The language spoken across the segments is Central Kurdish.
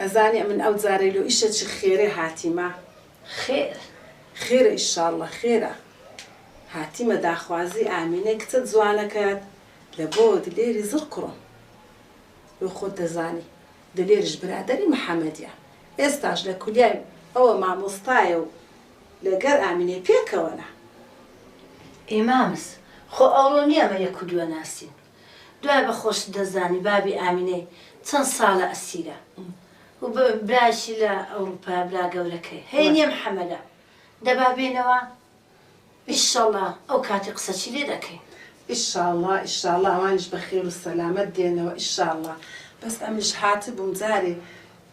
ئەزانێ ئەمن ئەو جارەی لۆ ئیشە چ خێرێ هاتیمە خێر خێرە ئیشاڵڵە خێرە هاتیمە داخوازی ئامینەی کچە جوانەکەت لە بۆ دلێری زڕ کوڕم لۆ خۆت دەزانی دلێرش برادەری محەمەدیە ئێستاش لە کولیای ئەوە مامۆستایە و لە گەر ئامینەی پێکەوەنە. ئێ مامز خۆ ئەوڕۆ نیە ئەمە یەک و دووە ناسین دوای بە خۆشت دەزانی بابی ئامینەی چەند ساڵە ئەسیرە و برایشی لە ئەوروپایە برا گەورەکەی هەینیە محەمەدە دەبا بێنەوە ئیشەڵا ئەو کاتی قسەچی لێ دەکەین. ئیشاڵا ئیشاڵا ئەوانیش بە خێر و سەلامەت دێنەوە ئیشاڵا بەس ئەمنیش هاتبووم جارێ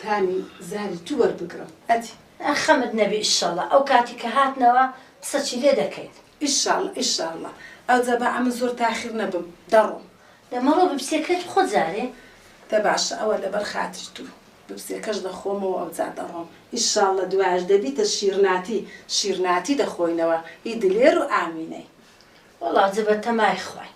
تامی زاری تو وەربگرم ئەدی. خەمت نەبی ئیشەڵا ئەو کاتی کە هاتنەوە قسەچی لێ دەکەین. ئیشاڵڵە ئیشاڵڵە ئەوجا با ئەمن زۆر تاخیر نەبم دەڕۆم. دە مەڕۆ ببسێ کەت بخۆ جارێ. دە باشە ئەوە لەبەر خاتری تو ببسێکەش دەخۆمەوە ئەوجا دەڕۆم ئیشاڵڵە دوایش دەبیتە شیرناتی شیرناتی دەخۆینەوە ئی دلێر و ئامینەی. وەڵا جە بە تەمای خواین.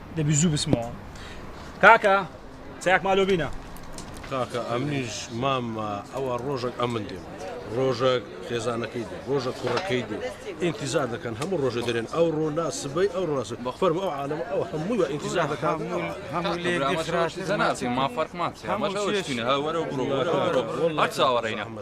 دەبی زوو بسمەوە کاکە چاک مالۆ بینە کاکە ئەمنیش مام ئەوە ڕۆژێک ئەمن دێم ڕۆژێک خێزانەکەی دێ ڕۆژە کوڕەکەی دێ ئینتیزار دەکەن هەموو ڕۆژە دەرێن ئەو ڕۆنا سبەی ئەو ڕاس بەخبەر ئەو عاالم ئەو هەموو ئینتیزار دەکات هەموو مافەرمانە هەوەرە بڕۆ چاوەڕێنە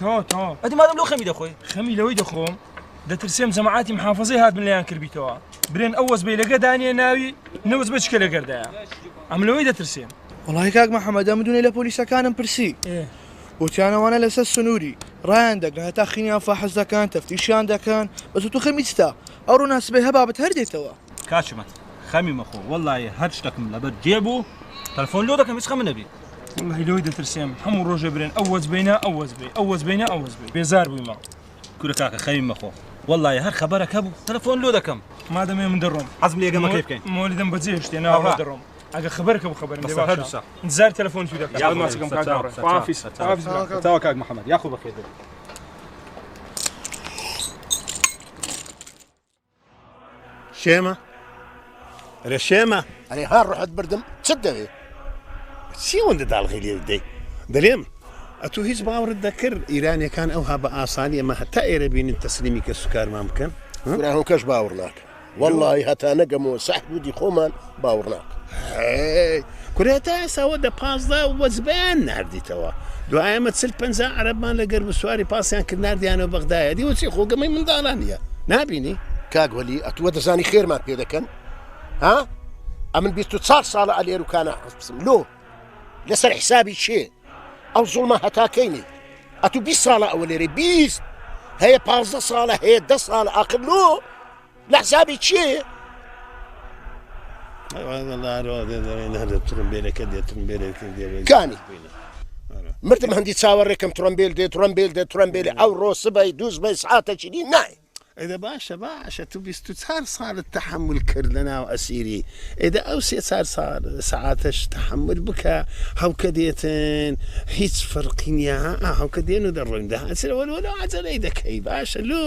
تۆ تۆ ئەدی مادەم لۆ خەمی دەخۆی خەمی لەوەی دەخۆم دەترسێم جەماعاتی محافظەی هاتن لەیان کردبیتەوە برێن ئەو وەز بی لەگە دانیە ناوی نەوز بە چکە لەگەردایە ئەم لەوەی دەترسێم وڵی کاک محەممەدە مدونێ لە پۆلیسەکانم پرسی وتیانەوانە لەسەر سنووری ڕایان دەگە هەتا خینیان فاحز دەکەن تەفتیشیان دەکەن بەس تو خەمی چتا ئەو ڕووناسبێ هەبابەت هەر دێتەوە کاچمە خەمی مەخۆ وەڵی هەر شتەکم لەبەر جێبوو تەلفۆن لۆ دەکەم هیچ خەمە نەبی واللهی لۆی دەترسێم هەموو ڕۆژێ برێن ئەو وەز بینە ئەو وەز بێ ئەو وەز بینە ئەو وەز بێ بێزار بوویمە کورە کاکە خەوی مەخۆ والله هەر خەبەرەکە بوو تەلەفۆن لۆ دەکەم مادەمێ من دەڕۆم حەزم لێ گەمەکەی بکەین مۆلیدم بەجێ هێشتێ ناڕۆ دەڕۆم ئەگە خبرکە بۆ خبرم لێ باشە زار تەلەفۆن توی دەکەم یاڵ ماسکم کاک داڕێ حافیز حافیز تاو کاک محمد یاخو بەخێر بێت شێمە ئەرێ شێمە ئەرێ ها ڕحت بردم چت دەوێ چی وەندە داڵغی لێ دەی دەرێم ئەتو هیچ باوەڕت دەکرد ئیرانەکان ئەوها بە ئاسانی ئەمە هەتا ئێرە بینن تەسلیمی کە سوکارمان بکەن هۆکەش باوەڕ ناکە واللهی هەتا نەگەمەوە سەحبوودی خۆمان باوڕناک هەی کورە تا ئێستا وە دە پازدە وەجبەیان ناردیتەوە دوای ئەمە چل پەنجا عەرەبمان لە گەرم و سواری پاسیان کرد ناردیانەوە بەغدایە دیوە چی خۆ گەمەی منداڵان نییە نابینی کاک وەلی ئەتووە دەزانی خێرمان پێ دەکەن ها ئەمن بیست و چار ساڵە ئەلێر و کانە حەزبسم لۆ لەسەر حسابی چێ ئەو زوڵمە هەتاکەینی ئەتوو بی ساڵە ئەوە لێرەی بیست هەیە پازدە ساڵە هەیە دە ساڵە ئاخر لۆ لە حسابی چێ؟ کانی مردم هەندی چاوەڕێکم ترۆمبیل دێت ترۆمبیل دێت ترۆمبیلی ئەو ڕۆسبای دووزبای سعاتە چینی نای ئەدە باشە باشە تو بیست و چار ساڵت تەحمل کرد لە ناو ئەسیری ئێدە ئەو سێ چار سعاتەش تەحمل بکە هەڵکە دێتن هیچ فەرقی نیە هەڵکە دێن و دەڕۆین دەهاچرەوە لۆ عجلەی دەکەی باشە لۆ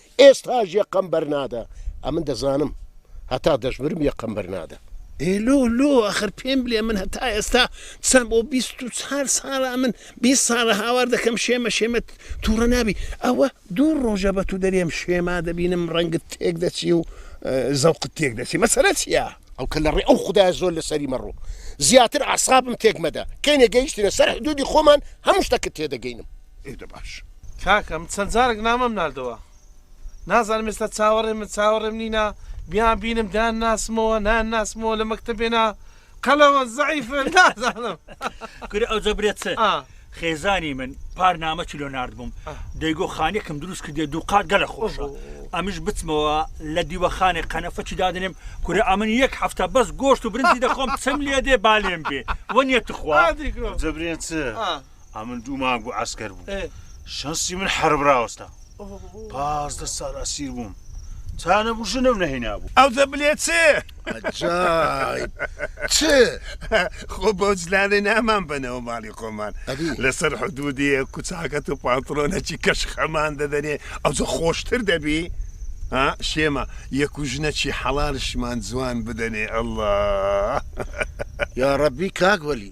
ئێستاش یەقەم بەرنادە ئەمن دەزانم هەتا دەشمرم یەقەم بەرنادە. ئێ لۆ لۆ ئەخر پێم بلێ من هەتا ئێستا چەن بۆ بیست و چار سالە ئەمن بیست سالە هاوار دەکەم شێمە شێمە توڕە نابی ئەوە دوو رۆژە بە تو دەرێم شێما دەبینم رەنگت تێک دەچی و زەوقت تێک دەچی مەسەلە چیە؟ ئەو کە لە ڕێ ئەو خودایە زۆر لە سەری مەڕۆ زیاتر ئەعسابم تێک مەدە کەینێ گەیشتینە سەر حدودی خۆمان هەموو شتەکت تێ دەگەینم. ئێ دە باش. کاکە من چەند جارەک نامەم ناردەوە نازانم ئێستا چاوەڕێ من چاوەڕێم نینا بیان بینم دان ناسمەوە نان ناسمەوە لە مەکتتەبێنا قەلەوە زعیف نازانم کورە ئەو جەبرێت چ خێزانی من پار نامە چلۆ نرد بووم دەیگۆ خانێکم دروست کردێ دوو قات گەلە خۆشە ئەمیش بچمەوە لە دیوەخانێک قەنەفەچی دادنێم کورە ئەمن یەک هەفتە بەس گۆشت و برنجی دەخۆم چم لێ دێ بالێن بێ وە نیە تخوا جبرێن چ ئەمن دوو مانگ بوو ئەسکەر بوو شەنسی من حرب راوەستا پازدە ساڵ ئەسیر بووم تانە بوو ژنم نەهینا بوو ئەو دە بلێ چ چ خۆ بۆ جلالێ نامان بنەوە ماڵی خۆمان لەسەر حدودی کوچاکەت و پانترۆنەکی کەش خەمان دەدەنێ ئەوجە خۆشتر دەبی شێمە یەکو ژنەکی حەڵالشمان جوان بدەنێ ئەله یا ڕەبی کاک وەلی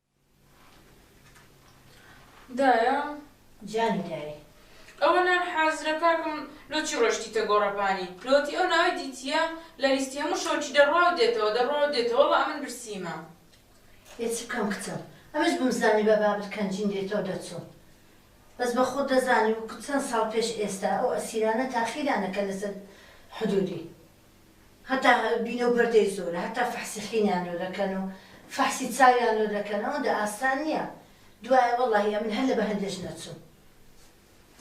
دایە جانی دایە. ئەوە نان حازرە کاکم لۆ چی ڕۆشتیتە گۆڕەپانی لۆتی ئەو ناوەی دیتیە لە لیستی هەموو شۆکی دەڕوا و دێتەوە دەڕوا و دێتەوە وەڵا ئەمن برسیمە. ئێ چ بکەم کچم ئەمنش بمزانیبا بابت کەنجین دێتۆ دەچوم بەس بە خۆت دەزانی وەکو چەن ساڵ پێش ئێستا ئەو ئەسیرانە تاخیرانەکە لەسەر حدودی. هەتا بینە و بەردەی زۆرە هەتا فەحسی حینیان لۆ دەکەن و فەحسی چاویان لۆ دەکەن ئەوەندە ئاسان نیە دوایە وەڵاهی ئەمن هەر لە بەهەندێش نەچوم.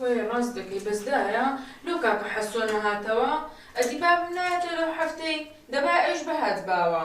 وەرێ ڕاست دەکەی بەس دایە لۆ کاکە حەسۆ نەهاتەوە ئەدی بابم نایەتۆ لەو حەفتەی دەبا ئەویش بهاتباوە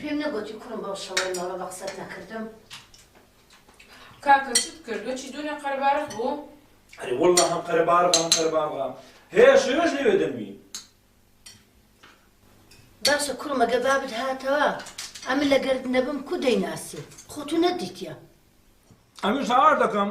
پێم نەگوتی کوڕم بەو شەوەی مەڵە بە قسەت نەکردم کاکە چت کرد بچی دونێ قەربارخ بوو ئەرێ والله هەم قەربارغ هەم قەربارغا هەیە شێوێش لەوێ دەنوی باشە کوڕم ئەگەر بابت هاتەوە ئەمن لەگەرت نەبم کو دەیناسی خۆ تو نەدیتە ئەمن ساوار دەکەم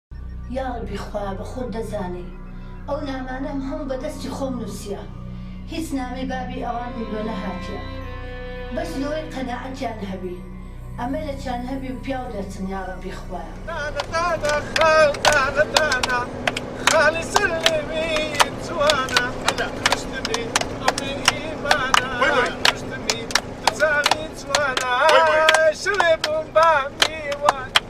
یاڕەبی خوایە بەخۆت دەزانی ئەو نامانەم هەموو بەدەستی خۆم نوسیە هیچ نامەی بابی ئەوانم لۆ نەهاتیە بەس لۆی قەناعەتیان هەبی ئەمە لە چان هەبی و پیاو دەرچن یاڕەبی خوایە. دانە دانە خاڵ دانە دانە خاڵی سەر لێوی جوانە کوشتمی ئەو بێ ئیمانە کوشتمی دوو چاوی جوانە شەوێ بووم بە میوان.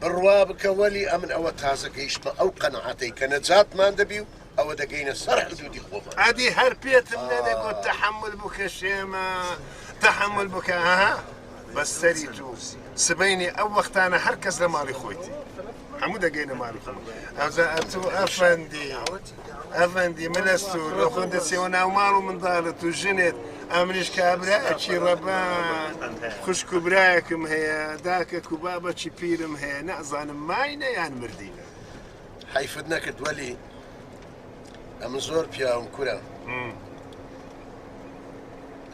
بڕوا بکە وەلی ئەمن ئەوە تازە گەیشتمە ئەو قەناعەتەی کە نەجاتمان دەبی و ئەوە دەگەینە سەر حدودی خۆمان. ئەدی هەر پێتم نەدەگۆت تەحەمول بکە شێمە تەحەمول بکە ها بەس سەری تو سبەینێ ئەو وەختانە هەر کەس لە ماڵی خۆیتی هەموو دەگەینە ماڵی خۆمان ئەوجا ئەتو ئەفەندی ئەفەندی من ئەستو لۆ خۆ دەچێەوە ناو ماڵ و منداڵت و ژنێت ئەمریش کابرا ئەچی ڕەبا خوشک و برایەکم هەیە داکە و بابەکی پیرم هەیە نازانم ماینە یان مردینە حیفت نەکرد وەلی ئەمە زۆر پیاوم کورە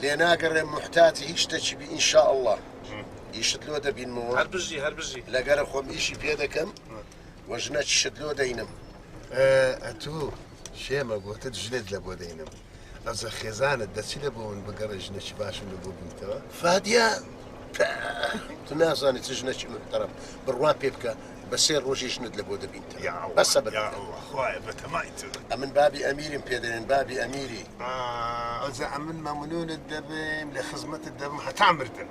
لێ ناگەڕێ محتاتی هیچ دەچی بی ئینشاء الله ئیشت لۆ دەبینمەوە هەر بژی هەر بژی لەگەرە خۆم ئیشی پێ دەکەم و ژنە چشت لۆ دەینم ئەتو شێمە گوتت ژنت لە بۆ دەینم ئەزە خێزانت دەچی لە بۆ من بگەڕێ ژنەکی باشم لە بۆ بنیتەوە فادیا تو نازانێت چ ژنەکی محتەرم بڕوا پێ بکە بە سێ ڕۆژی ژنت لە بۆ دەبین بەسە بە ئەمن بابی ئەمیریم پێدەێن بابی ئەمیری ئەزە ئەمن مەمنونت دەبێن لە خزمەتت دەبم هەتا مردن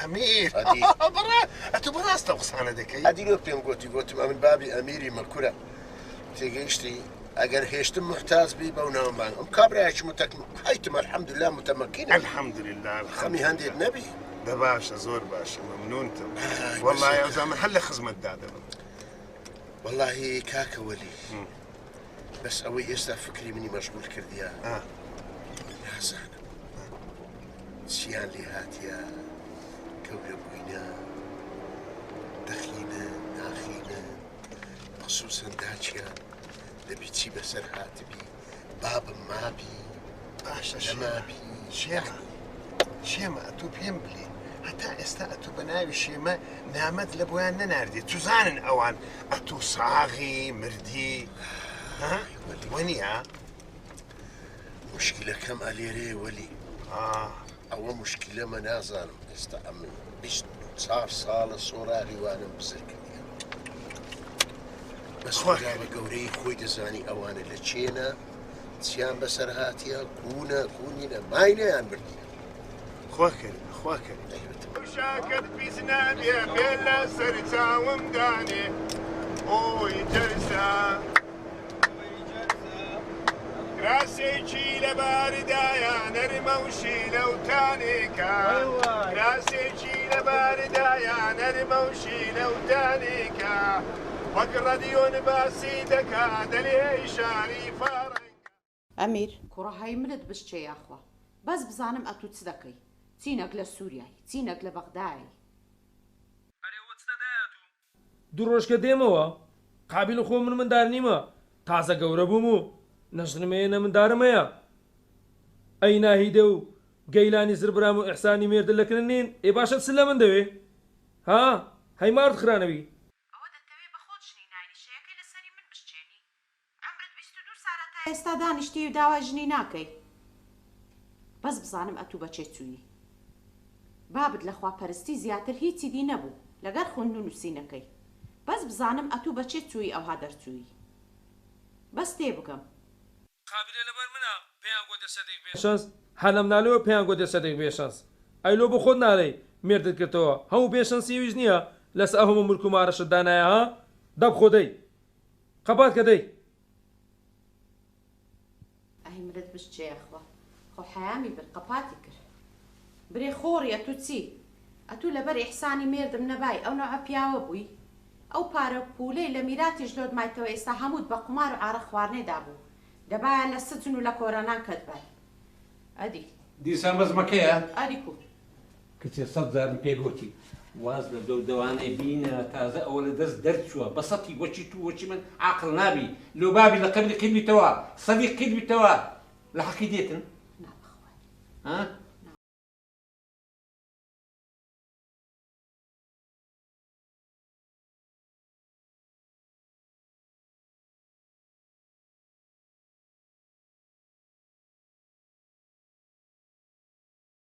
ئەمیر ئەدی بڕە ئەتو بەڕاست ئەو قسانە دەکەی ئەدی وەک پێم گۆتی گۆتم ئەمن بابی ئەمیری مە کورە تێگەیشتی ئەگەر هێشتم محتاج بی بەو ناوم بانگ ئەم کابراایکی متەک حیتم الحمدلله متمەکین الحمدلله خەمی هەندێک نەبی دە باشە زۆر باشە ممنونتم والله ئەوزامە هەر لە خزمەت دادەبم واللهی کاکە وەلی بەس ئەوەی ئێستا فکری منی مەشغول کردیە نازانم چیان لێ هاتیە گەورە بووینە دەخینە ناخینە خصوصن داچیان دەبی چی بەسەر هاتبی بابم مابی باشە شەمابی شێعری شێمە ئەتو پێم بلێ هەتا ئێستا ئەتو بە ناوی شێمە نامەت لە بۆیان نەناردێت چزانن ئەوان ئەتو ساغی مردی وەنیە مشکلەکەم ئەلێرەیە وەلی ئەوە مشکلەمە نازانم ئێستا ئەمن چار ساڵە سۆراغی وانم بزر کردی بەسواگا بە گەورەی خۆی دەزانی ئەوانە لە چێنە چیان بەسەر هااتە کوونە کوونینە ماینەیان بردی خوا کەریم خوا کەریم. وشاکەت پیس نابێ بێ لە سەر چاوم دانێ ئۆی جەرزە کراسێکی لەباردایە نەرمە و شیلە و تانێکە کراسێکی لەباردایە نەرمە و شیلە و تانێکە وەک ڕەدیۆن باسی دەکا دەلێ شاری فارە ئەمیر. کوڕە هەی منت بشچێ یاخوا بەس بزانم ئەتوو چ دەکەی چینەک لە سوریای چینەک لە بەغدایەی. ئەرێ وە چ دەدای ئەتوو. دوو ڕۆژ کە دێمەوە قابیل خۆ من مندار نیمە تازە گەورە بووم و نە ژنم هەیە نە مندارم هەیە ئەی ناهیدە و گەیلانی زر برام و ئیحسانی مێردل لە کن نین ئێ باشە چ لە من دەوێ ها هەی مارد خرانەوی. ئەوە دەتەوێ بە خۆت ژنی ناینی شەیەکەی لە سەری من بشچێنی عەمرت بیست و دوو سالە تا ئێستا دانیشتیی و داوای ژنی ناکەی بەس بزانم ئەتوو بە چێ چوویی بابت لە خوا پەرستی زیاتر هیچی دی نەبوو لەگەر خوند و نووسینەکەی بەس بزانم ئەتوو بە چێ چوویی ئەوها دەرچوویی بەس تێ بگەم. قابیلە لەبەر منە پێیان گۆ دە سەدیق بێ شەنس هەر لەم نالێوە پێیان گۆ دە سەدیق بێ شەنس ئەی لۆ بۆ خۆت نالێی مێردت گرتەوە هەموو بێ شەنسی ئەویش نیە لەسە ئەهۆمە ملک و مارەشت دانایە ها دەب خۆ دەی قەبات کە دەی. ئەهی مرد بژ چێ یاخوا خۆ حەیامی برد قەپاتی کرد برێ خۆڕی ئەتوو چی ئەتوو لەبەر ئیحسانی مێردم نەبای ئەو نەوعە پیاوە بووی ئەو پارە و پوولەی لە میراتی ژنۆت مایتەوە ئێستا هەمووت بە قومار و عارەق خواردنێ دابوو دەبایە لە سجن و لە کۆرانان کەتبای ئەدی. دیسان بەس مەکەیە. ئەدی کوو. کچێ سەد جارم پێ گۆتی واز لە دەو دەوانەی بینە تازە ئەوە لە دەست دەرچوە بە سەتی وەکی تو وەکی من عاقڵ نابی لۆ بابی لە قەبری قید بیتەوە سەدی قید بیتەوە لە حەقی دێتن ها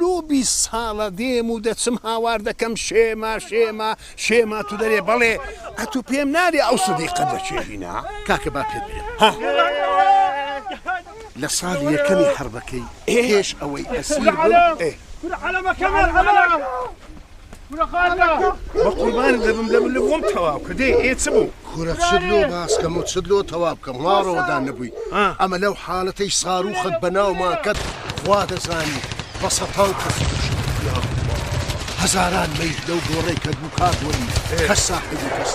لۆ بیست ساڵە دێم و دەچم هاوار دەکەم شێمە شێمە شێ ماتو دەرێ بەڵێ ئەتو پێم نالێ ئەو سدیقە لە کوێ هینا کاکە با پێت بلێم ها لە ساڵی یەکەمی حربەکەی پێش ئەوەی ئەسیر بە قوربان دەبم دەبم لە بۆم تەواو کە دێ ئێ چ بوو کورە چت لۆ باس کەم و چت لۆ تەوا بکەم ماڵەوە دا نەبووی ئەمە لەو حالەتەی ساروخەت بە ناومان کەت خوا دەزانی بە سەتان کەس کوشتیان هەزاران مەیت لەو گۆڕەی کە دوو کات وەری کەس ساحبی کەس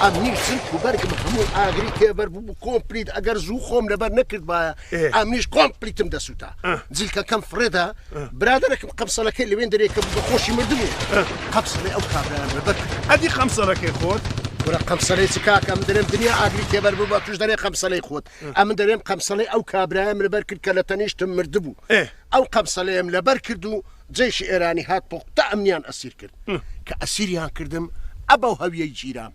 ئەمنی چرک و بەرگم هەموو ئاگری تێبەر بوو کۆمپلیت ئەگەر زوو خۆم لەبەر نەکردبایە ئا منیش کۆم پلیتم دەسووتا جلکەکەم فڕێدا برادەرەکەم قەمسەلەکەی لەوێن دەرێکە بە خۆشی مردبوو قەمسەلەی ئەو کابرایان بەدەر ئەدی قەمسەلەکەی خۆت گورە قەمسەلەی چ کاکەم دەرێم دنیا ئاگری تێبەر بوو بە توش دەرێ قەمسەلەی خۆت ئەمن دەرێم قەمسەلەی ئەو کابرایم لەبەر کرد کە لە تەنیشتم مردبوو ئەو قەمسەلەیەم لەبەر کرد و جێشی ئێرانی هات پۆقتا ئەمنیان ئەسیر کرد کە ئەسیریان کردم ئەبەو هەویەی گیرام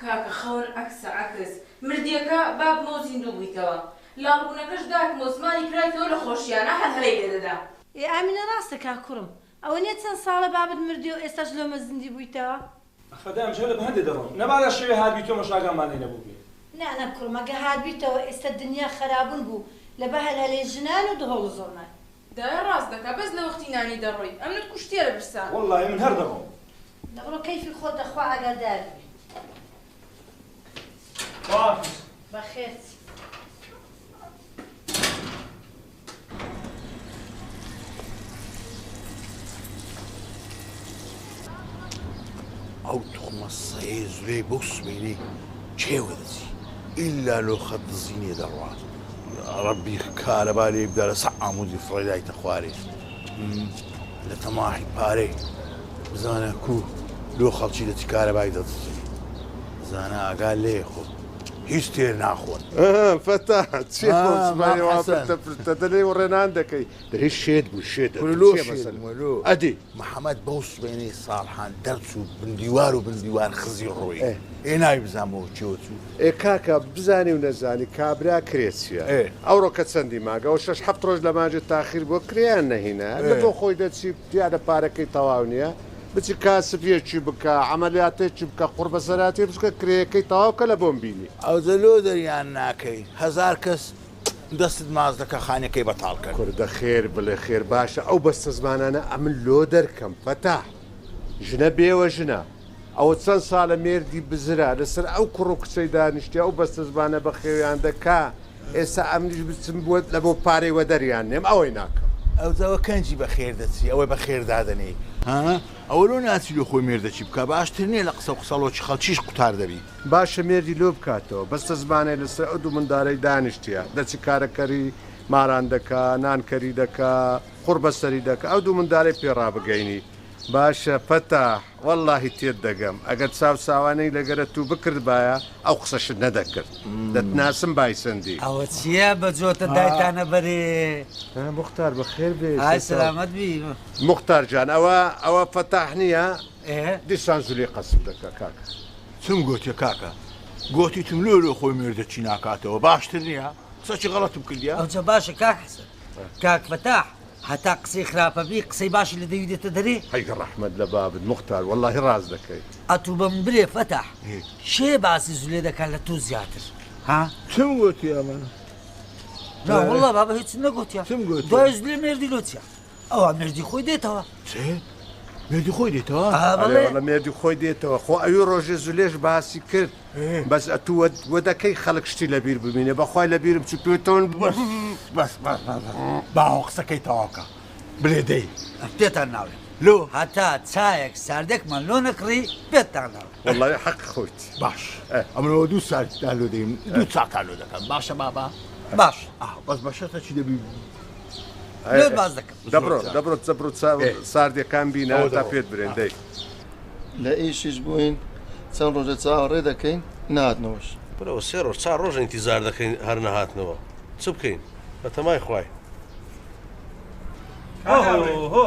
کاکە خەون عەکسە عەکس. مردیەکە با بمەو زیندوو بویتەوە لاڵ بونەکەش داکمەو زمانی کرای تۆ لە خۆشیانە هەل هەلەی لێ دەدا. ئێ ئامینە ڕاستە کاک کوڕم. ئەوەنیە چەند ساڵە بابت مردویەو ئێستاش لۆمە زیندی بویتەوە. ئەخەدای ئەمجارە بە هەندێ دەڕۆم. نەبادا شەوێ هاتبیتۆمەش ئاگامان لێ نەبوبێ. نا نا کوڕم ئەگە هاتبیتەوە ئێستا دنیا خەرابون بوو لە بە هەلهەلەی ژنان و دهۆڵ و زۆرنای. دایە ڕاست دەکا بەس لە وەختی نانی دەڕۆی ئەمنت کوشتیە لە برسا. وەڵڵاهی من هەر دەڕۆم. دەبڕۆ کەیفی خۆت دە خوا ئاگادار بی. خواحافیز. بەخێرت. ئەو توخمە سەیەی زرێی بەو سبەینەی کێ وەدەچی ئیلا لۆ خەت دزینێ دەڕوات ڕەبی کارەبا لێ بدا لەسەر عمودی فڕێ دایتە خوارێ لە تەماحی پارێ بزانە کو لۆ خەڵکی دەچی کارەبای دەدزی زانە ئاگا لێ خۆ هیچ تێر ناخۆن فەتا چێ پرتە دەلێ و ڕێنان دەکەی دەی شێت بوو شێت ئەدی محمد بەو سوێنەی ساڵحان دەرچوو بن دیوار و بن دیوار خزی ڕووی ئێ ئێ ناوی بزان بۆ چێوە چوو. ئێ کاکە بزانی و نەزانی کابرا کرێ چیە ئێ. ئەوڕۆ کە چەندی مانگە ئەوە شەش حەفت ڕۆژ لە مانجێ تاخیر بووە کرێیان نەهینا ئێ. لە بۆ خۆی دەچی پیادە پارەکەی تەواو نیە بچی کاسب یەکی بکە عەمەلیاتێکی بکە قوڕبەسەراتێ بچکە کرێیەکەی تەواو کە لە بۆم بینی. ئەوجە لۆ دەریان ناکەی هەزار کەس دەستت ماچ دەکا خانەکەی بەتاڵ کەر. کوردە خێر بڵێ خێر باشە ئەو بەستەزمانانە ئەمن لۆ دەرکەم فەتاح ژنە بێوە ژنە ئەوە چەن سالە مێردی بزرە لەسەر ئەو کوڕو کچەی دانیشتیە ئەو بەستەزمانە بەخێویان دەکا ئێستا ئەمنیش بچم بۆ لەبۆ پارەی وەدەریان نێم ئەوەی ناکەم. ئەو جاوە کەنجی بەخێر دەچی ئەوەی بەخێر دادەنێی ها ئەوە لۆ ناچی لۆ خۆی مێردەچی بکا باشتر نیە لە قسەو قسەڵۆکی خەڵکیش قوتار دەبی. باشە مێردی لۆ بکاتەوە. بەستەزمانێ لەسەر ئەو دوو مندارەی دانیشتیە دەچی کارە کەری ماران دەکا نان کەری دەکا قوڕ بەسەری دەکا ئەو دوو مندارەی پێ ڕابگەینی باشە فەتاح وەڵاهی تێت دەگەم ئەگەر چاو چاوانێی لەگەرە توو بکردبایە ئەو قسەشت نەدەکرد دەتناسم بایسەندی. ئەوە چیە بە جۆتە دایتانە بەرێ. نا موختار بەخێر بێیت. ئای سەلامەت بی. موختار جان ئەوە ئەوە فەتاح نیە؟ دیسان زلەی قەسف دەکا کاکە چم گۆتیە کاکە گۆتیتم لۆ لۆ خۆی مێردە چی ناکاتەوە باشتر نیە قسە چی غەڵەتم کردیە. ئەوجە باشە کاک حسن کاک فتاح هەتا قسەی خراپە بی قسەی باشی لە دەوی دێتە دەرێ. هەی ڕەحمەت لە بابت موختار وەڵاهی ڕاست دەکەی. ئەتوو بەمن بلێ فتاح کێ باسی زلێ دەکا لە تۆ زیاتر ها؟ چم گۆتیە من؟ نا وەڵا بابە هیچم نەگۆتیە دوای زلێ مێردی لۆ چیە؟ ئەوە مردی خۆی دێتەوە چێ؟ مێردی خۆی دێتەوە لە مێردی خۆی دێتەوە خۆ ئەوی ڕۆژێ زولێش باسی کرد بەس ئەتووە وەدەکەی خەڵک شتی لە بیر ببینێ بەخوای لە بیرم چ توێتەوەن بەس باوە قسەکەی تەواوکە بلێ دەی پێتان ناوێ لۆ هەتا چایەک ساردێکمان لۆ نەکڕی پێتان ناوە وڵی حەق خۆیت باش ئەمەوە دوو سارد دالۆ دەیم دوو چاکالۆ دەکەم باشە بابا باش بەس بەشەتە چی دەبی دەبڕۆ دەبڕۆ دەبڕۆ ساردیەکان بینە تا پێت برێن دەی لە ئیشیش بووین چەند ڕۆژە چاوەڕێ دەکەین ناتنەوەش برەوە سێ ڕۆژ چا ڕۆژە ئینتیزار دەکەین هەر نەهاتنەوە چ بکەین بەتەمای خوای هۆ هۆ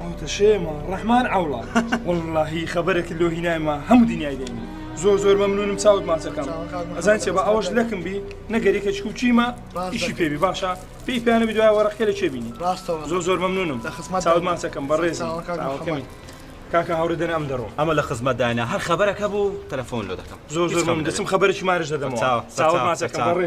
ئەوتەشێمە ڕەحمان عوڵا وڵاهی خەبەرێکی لۆ هینایمە هەموو دنیای دەینی زۆر زۆر مەمنونم چاوت ماچەکەم ئەزان چێ بە ئەوەش لەکم بی نەگەریکە چکوچیمە ئیشی پێبی باشە پێی پێیانە بی دوای وەڕەکە لە چێبینی ڕاستەوە زۆر زۆر مەمنونم لە خسمە چاوت ماچەکەم بەڕێز کاکە هاوڕێ دەن ئەم دەڕۆ ئەمە لە خزمەت دانا هەر خبرەکە بوو تەلەفۆن لۆ دەکەم زۆر زۆر من دەچم خبرێکی مارش دەدەمەوە چاوە ماچەکەم بەڕێ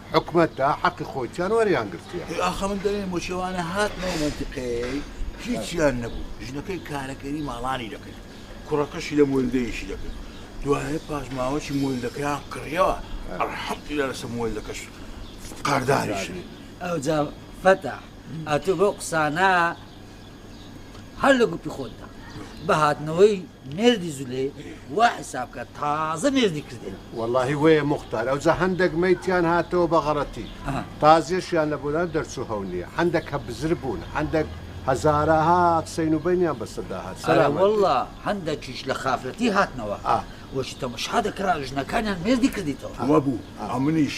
حکومەت دا حەقی خۆیتان وەریان گرتووە. ئەی ئاخە من دەلێم بۆچی ئەوانە هاتن ئەو مەنتیقەیەی هیچیان نەبوو ژنەکەی کارەکەری ماڵانی دەکرد کوڕەکەشی لە مۆلدەیەکی دەکرد دوایە پاش ماوەکی مۆلدەکەیان کڕیەوە ئەلحەمدولیلا لەسەر مۆلدەکەش قەرداریشن. ئەوجا فەتاح ئەتوو بەو قسانە هەر لە گوپی خۆتدا بە هاتنەوەی مێردی زولەی وا حیساب کە تازە مێردی کردێ. وەڵاهی وەیە موختار ئەوجا هەندەک مەیتیان هاتەوە بە غەڕەتی تازیەشیان لە بۆلان دەرچوو هەو نیە هەندەک کە بزر بوون هەندەک هەزارەها سەین و بەینیان بەسەردا هات سەرا وەڵا هەندەکیش لە خافەتی هاتنەوە وەشی تەمەشا دەکرا ژنەکانیان مێردی کردیتەوە وەبوو ئەمنیش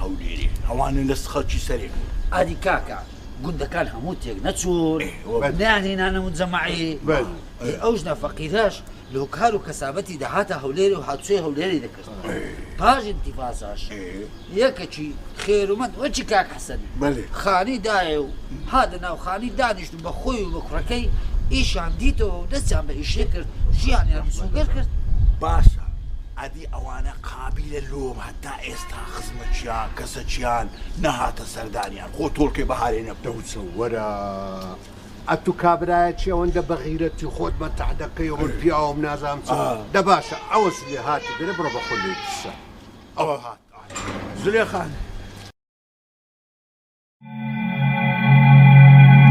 هەولێرێ ئەوانە لە خەڵکی سەرێ بوون. ئاری کاکە گوندەکان هەموو تێک نەچوون نەیان هینانە مجەمەعی ئەو ژنە فەقیرەش لۆ کار و کەسابەتی دەهاتە هەولێرێ و هاتوچۆی هەولێری دەکرد پاش ئینتیفازاش یەکەکی خێرومەند وەکی کاک حەسەن خانی دایێ و هاتە ناو خانی دانیشت و بە خۆی و بە کوڕەکەی ئیشیان دیتەوە و دەستیان بە ئیشێ کرد ژیانیان مسۆگەر کرد باشە ئەدی ئەوانە قابیلە لۆ تا ئێستا خزمەکیان، کەسەکیان، نەهاتە سەردانیان، خۆ تۆڵکەی بەهارەی نەبوو. دەوچە وەرە ئەتوو کابرایە چی ئەوەندە بەغیرەتی خۆت بە تەع دەکەی ئەوە پیاوم نازانم چ دە باشە ئەوە زلێ هاتی دەرێ بڕۆ بە خۆی لێی پرسە ئەوە هات زلێخان.